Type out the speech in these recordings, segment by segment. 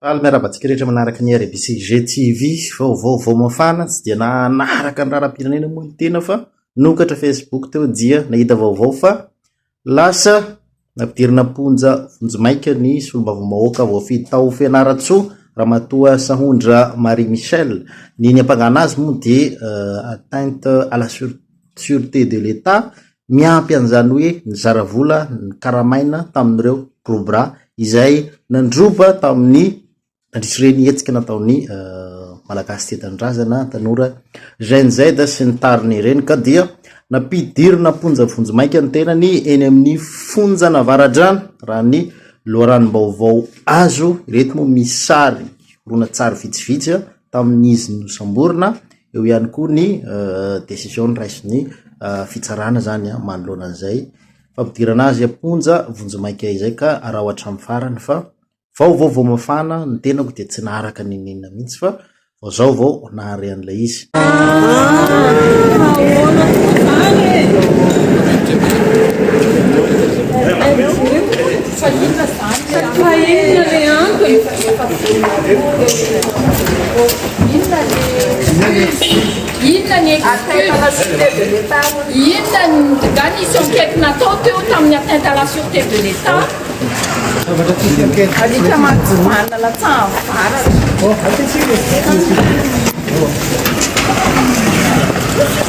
Faly miarahaba antsika rehetra manaraka ny RBCG TV, vaovao vao mafana, tsy dia nanaraka ny raharaham-pirenena moa ny tena fa nokatra Facebook teo dia nahita vaovao fa lasa nampidirina am-ponja vonjimaika ny solombavambahoaka voafidy tao Fianarantsoa, Ramatoa Sahondra Marie Michel. Ny niampangana azy moa dia euh, atteinte à la sûreté de l'État Miampy an'izany hoe nizara vola nikaramaina tamin'ireo Cobra izay nandroba tamin'ny nandritr'ireny hetsika nataon'ny Malagasy Tia Tanindrazana, Tanora Gen Z sy ny tariny ireny ka dia nampidirina am-ponja vonjimaika ny tenany eny amin'ny fonjan'Avaradrano raha ny loharanom-baovao azo, ireto moa misy sary horonantsary vitsivitsy. tamin'izy nosamborina, eo ihany koa ny décision noraisin'ny fitsarana zany a manoloana an'izay fampidirana azy am-ponja vonjimaika izay ka araho hatramin'ny farany fa vao vao vao mafana ny tenako dia tsy naharaka n'inon'inona mihitsy fa vao zao vao nahare an'ilay izy. Fa inona izany? Fa inona le antony? Inona ny inona ny inona nga nisy enquête natao teo tamin'ny atteinte à la sûreté de l'État alika mantsivanina latsahan'ny varatra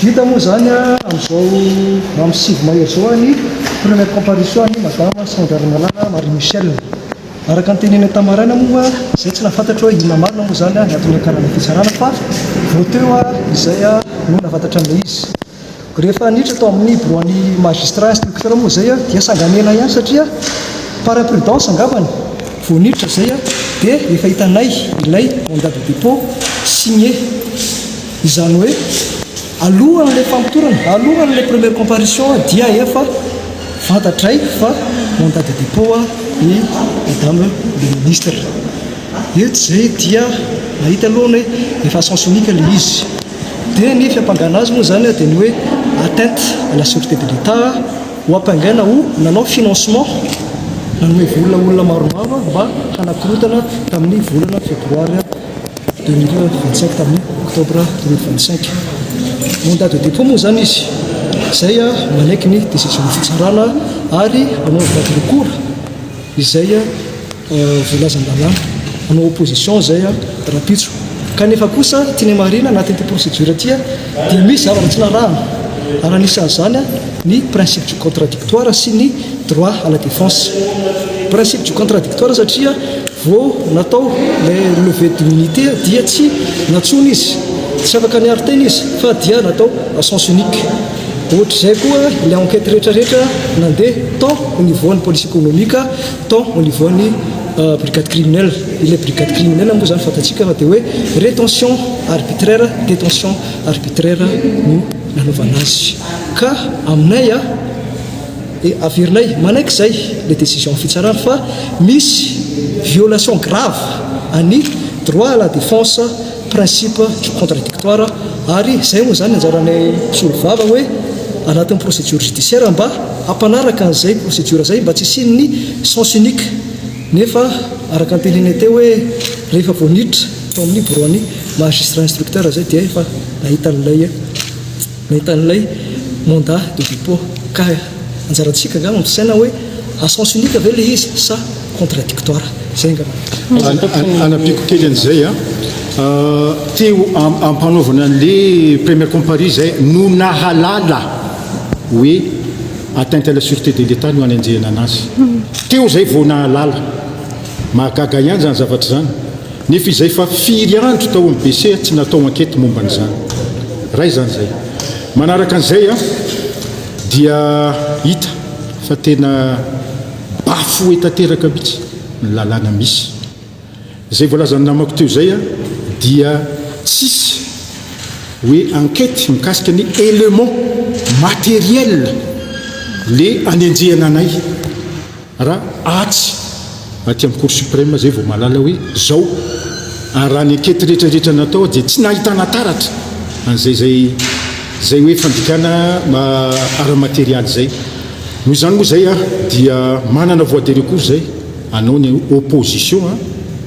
Vita moa izany amin'izao amin'ny sivy may izao ny première comparution an'i Madama Sandra Ramalala Marie Michelle. Araka ny teneniny tamin'ny maraina moa izay tsy nahafantatro hoe inona marina moa izany ny antony niakaran'ny fitsarana fa vao teo izay no nahafatatra an'ilay izy. Rehefa niditra tao amin'ny biraon'ny magistrat instructeur moa izay dia sangan'ela ihany satria par imprudence angambany vao niditra izay dia efa hitanay ilay mandat de dépôt signé. Izany hoe, alohan'ilay famotorana, alohan'ilay première comparution aho dia efa fantatray fa mandat de dépôt i Madame le Ministre. Eto izay dia mahita aloha ny hoe efa à sens unique ilay izy. Dia ny fiampangana azy moa izany dia ny hoe atteinte à la sûreté de l'Etat, ho ampangaina ho nanao financement, nanome vola olona maromaro mba hanakorotana tamin'ny volana febroary. Deux mille vingt sept tamin'ny octobre deux mille vingt cinq mandat de dépôt moa zany izy izay manaiky ny décision ny fitsarana ary anaovana de recours izay voalazan-dalàna hanao opposition izay rahampitso kanefa kosa tiany marina anatin'ity procédure ity dia misy zavatra tsy narahana, ary anisan'izany ny principe du contradictoire sy ny droit à la défense. Principe du contradictoire satria vao natao ilay levée d'immunité dia tsy nantsoina izy, tsy afaka niaro tena izy fa dia natao à sens unique. Ohatr'izay koa ilay enquête rehetrarehetra nandeha tant au niveau an'ny police économique tant au niveau ny brigade criminelle, ilay brigade criminelle moa izany fantatsika fa dia hoe rétention arbitraire, détention arbitraire no nanaovana azy ka aminay a dia averinay manaiky izay ilay décision fitsarana fa misy violation grave an'ny droit à la défense principe contradictoire ary izay moa izany anjaran'ny mpisolo vava hoe anatin'ny procédure judiciaire mba hampanaraka an'izay procédure izay mba tsy hisian'ny sens unique nefa araka ny teneniny teo hoe rehefa vao niditra tao amin'ny bureau-n'ny magistrat instructeur izay dia efa nahita an'ilay Nahita an'ilay Manda de dépôt kah. Anjarantsika angaha mampisaina hoe à sens unique ve ilay izy sa contradictoire. Izay angamba. Anampiako kely an'izay an. Te ho ampanaovina an'ilay première comparie izay no nahalala hoe atteinte à la sûreté de l'Etat no anenjehina an'azy. Teo izay vao nahalala. Mahagaga ihany izany zavatra izany. Nefa izay fa firy andro tao amin'ny BC tsy natao ankety momba an'izany. Ray izany izay. Manaraka an'izay an, dia hita fa tena bafoué tanteraka mihitsy ny lalàna misy. Izay voalazan'ny namako teo izay an, dia tsisy hoe ankety mikasika ny éléments matériels le anenjehana anay. Raha atsy aty amin'ny Cour Supreme izay vao mahalala hoe izao. Ary raha ny ankety rehetra rehetra natao aho dia tsy nahitana taratra an'izay izay izay hoe fandikana ara-materialy izay. Noho izany moa izay aho dia manana voie de recours izay anao ny opposition an,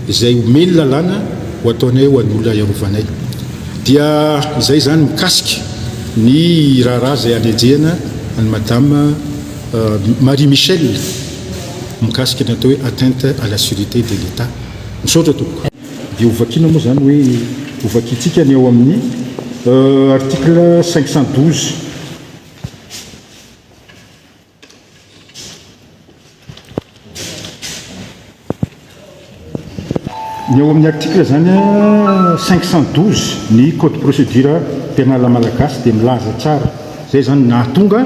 izay omeny lalàna ho ataonay ho an'ny olona iarovanay. Dia izay izany mikasika ny raharaha izay hanenjehana an'i Madame. Marie Michelle mikasika ny atao hoe atteinte à la surete de l'Etat. Misaotra tompoko. Dia hovakiana moa izany hoe hovakintsika ny ao amin'ny article cinq cent douze. Ny ao amin'ny article izany a 512 ny code procédure pénale malagasy dia milaza tsara izay izany no nahatonga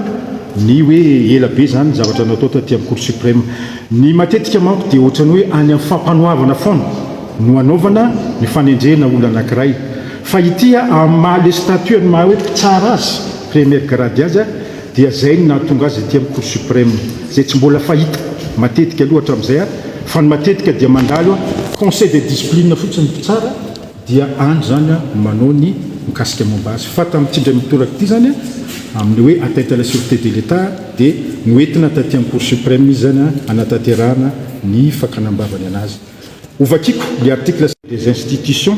ny hoe ela be izany ny zavatra natao taty amin'ny cour suprême. Ny matetika manko dia ohatran'ny hoe any amin'ny fampanoavana foana no anaovana ny fanendrena olona anankiray fa ity a amin'ny maha le statut an'ny maha hoe mpitsara azy première grade azy a Dia izay no nahatonga azy aty amin'ny Cour Supreme, izay tsy mbola fahita matetika aloha hatramin'izay aho, fa ny matetika dia mandalo an, conseil de discipline fotsiny ny mpitsara, dia any izany an manao ny mikasika momba azy. Fa tamin'ity indray mitoraka ity izany an, amin'ny hoe atteinte à la surete de l'Etat, dia noentina taty amin'ny Cour Supreme izy izany an, hanatanterahana ny fakana am-bavany an'azy. Ho vakiko ny article. Des institutions.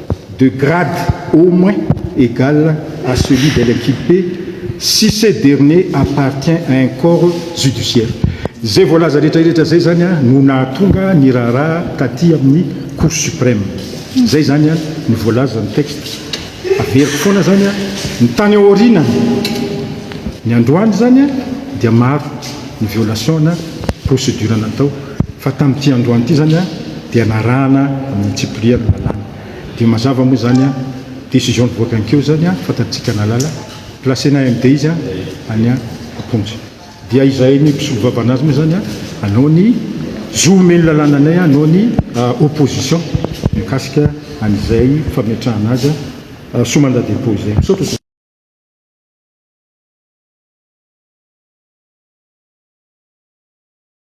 de grade au moins egal à celui de l'inculpé si ce dernier appartient à un corps judiciaire. Izay voalaza rehetrarehetra izay izany no nahatonga ny raharaha taty amin'ny Cour suprême. Izay izany no voalazan'ny texte. Averiko foana izany, ny tany aoriana ny androany izany dia maro ny violation-na procédure natao. Fa tamin'ity androany ity izany dia narahana ny Tsipri ny lalàna. Dia mazava moa izany décision nivoaka ny keo izany fantatsika nalala. Placena MD izy any am-ponja. Dia izahay ny mpisolo vavana azy moa izany hanao ny zo omen'ny lalàna anay hanao ny opposition mikasika an'izay fametrahana azy sous mandat de dépôt izay. Misaotra.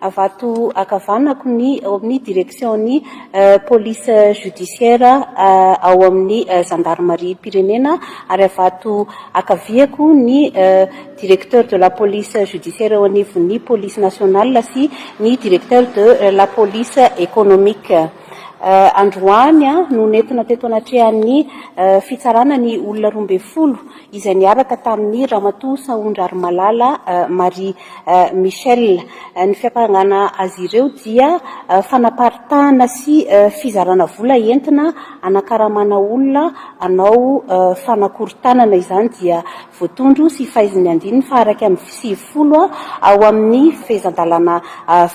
Avato ankavanako ny ao amin'ny direksion'ny polisy jodisiera ao amin'ny zandarimariam-pirenena ary avato ankaviako ny directeur de la police judiciaire eo anivon'ny polisy nationale sy ny directeur de la police économique. Androany no nentina teto anatrehan'ny fitsarana ny olona roa ambin'ny folo izay niaraka tamin'i Ramatoa Sahondrarimalala Marie Michelle. Ny fiampangana azy ireo dia fanaparitahana sy fizarana vola entina hanakaramana olona hanao fanakorontanana. Izany dia voatondro sy faizin'ny andininy faha-iraika amby sivifolo ao amin'ny fehezan-dalàna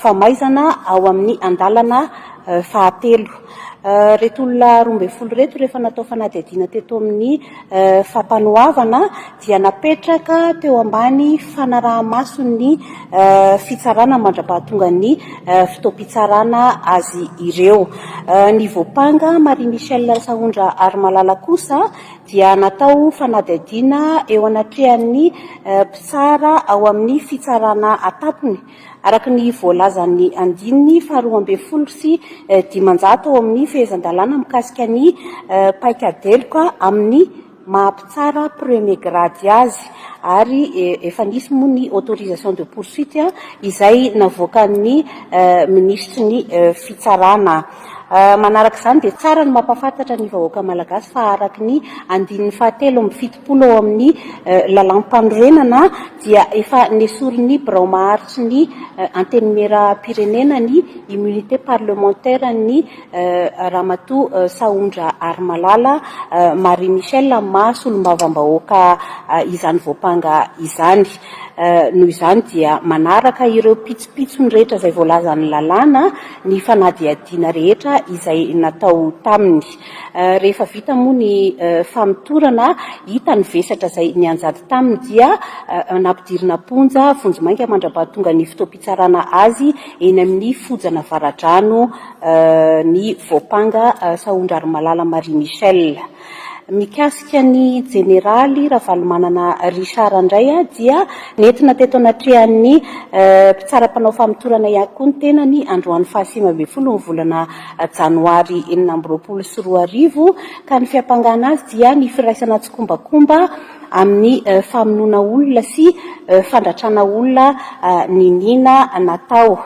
famaizana ao amin'ny andalana fahatelo. Ireto olona roa ambin'ny folo ireto rehefa natao fanadihadiana teto amin'ny Fampanoavana dia napetraka teo ambany fanaraha-mason'ny fitsarana mandra-pahatongan'ny fotoam-pitsarana azy ireo. Ny voampanga Marie Michelle Sahondra Harimalala kosa dia natao fanadihadiana eo anatrehan'ny mpitsara ao amin'ny fitsarana an-tampony Araka ny voalazan'ny andininy faharoa ambin'ny folo sy dimanjato ao amin'ny Fehezan-dalàna mikasika ny paikadeloka amin'ny maha mpitsara premier grade azy, ary efa nisy moa ny autorisation de poursuite izay navoakan'ny minisitry ny Fitsarana. Manaraka izany dia tsara ny mampahafantatra ny vahoaka malagasy fa araka ny andininy fahatelo amby fito. folo ao amin'ny Lalàmpanorenana dia efa nesorin'ny Birao Maharitry ny Antenimierampirenena ny immunité parlementaire-n'ny Ramatoa Sahondra Harimalala Marie Michelle amin'ny maha Solombavambahoaka izany voampanga izany. Noho izany dia manaraka ireo pitsopitsony rehetra izay voalazan'ny lalàna ny fanadihadiana rehetra izay natao taminy. Rehefa vita moa ny famotorana, hita ny vesatra izay nianjady taminy dia nampidirina am-ponja vonjimaika mandra-pahatonga ny fotoam-pitsarana azy eny amin'ny fojan'Avaradrano ny voampanga Sahondrarimalala Marie Michelle. Mikasika ny Jeneraly Ravalomanana Richard indray dia nentina teto anatrehan'ny mpitsara mpanao famotorana ihany koa ny tenany androany fahasivy ambin'ny folo ny volana Janoary enina amby roapolo sy roa arivo, ka ny fiampangana azy dia ny firaisana tsikombakomba amin'ny famonoana olona sy fandratrana olona niniana natao.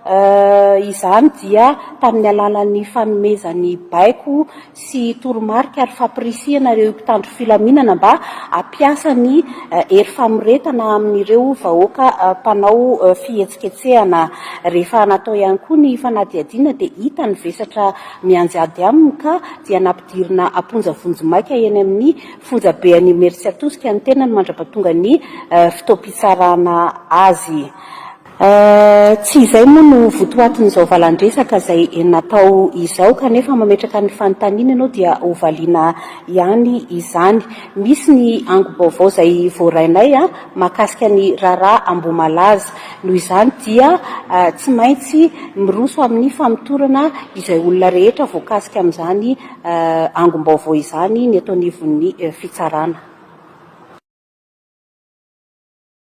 Izany dia tamin'ny alalan'ny fanomezany baiko sy toromarika ary fampirisihana ireo mpitandro filaminana mba hampiasa ny hery famoretana amin'ireo vahoaka mpanao fihetsiketsehana. Rehefa natao ihany koa ny fanadihadiana dia hita ny vesatra mianjady aminy ka dia nampidirina am-ponja vonjimaika eny amin'ny fonjabe an'i Imerintsiatosika ny tenany mandrapatonga ny fotoam-pitsarana azy. Tsy izay moa no votoatin'izao valan-dresaka izay natao izao, kanefa mametraka ny fanontaniana ianao dia hovaliana ihany izany. Misy ny ango-baovao izay voarainay mahakasika ny raharaha Ambohimalaza. Noho izany dia tsy maintsy miroso amin'ny famotorana izay olona rehetra voakasika amin'izany angom-baovao izany ny eto anivon'ny fitsarana.